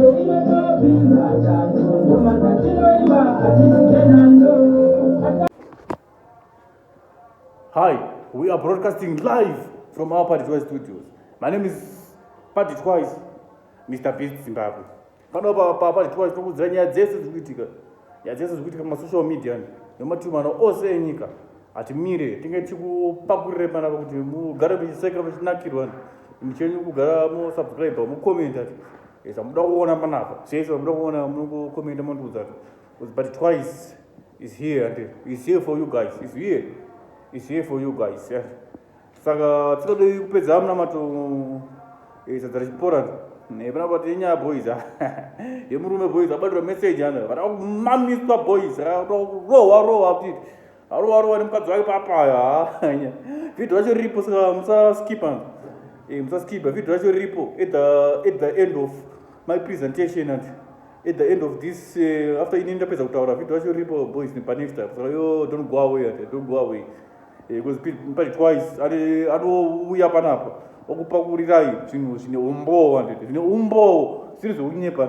Hi, we are broadcasting live from our Party Twice studios. My name is Party Twice, Mr. Beast Zimbabwe. Pano pa pa Party Twice tokudzira nyaya dzese dziri kuitika. Nyaya dzese dziri kuitika masocial media nematumano ose enyika. Hatimire, tinge tikupakurire panapa kuti mugare muchiseka muchinakirwa. Muchenyu kugara musubscribe, mucomment ati. Yes, amuda kuona panapa. Yes, amuda kuona munongo comment mondiudza kuti but twice is here and is here for you guys. Is here. Is here for you guys. Yeah. Saka tsikadei kupedza amunamato eh, sadza rechipora nepana pati inyaya boys yemurume boys abatira message ana vada kumamiswa boys vada kurohwa rohwa kuti Arova rova nemukadzi wake papaya. Video racho riripo saka musa skipper. Eh musa skipper video racho riripo at the at the end of my presentation and at the end of this uh, after ini ndapedza kutaura video racho riripo boys nepa next time. So yo don't go away and don't go away. Eh because pari twice ari anouya panapa okupakurirayii zvinhu zvine umbowo anditi zvine umbowo zviri zvekunyepa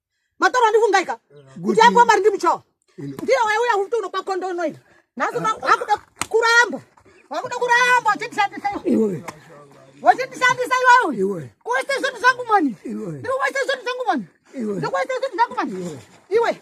matoro andifungaika kuti angu mari ndimuchawa ndiye waiuya kuti unopa kondo unoita nhasi akuda kuramba wakuda kuramba uchindishandisa iwe wachindishandisa iwewe kuwaisa zvinhu zvangu mani ndiri kuwaisa zvinhu zvangu mani ndiri kuwaisa zvinhu zvangu mani iwe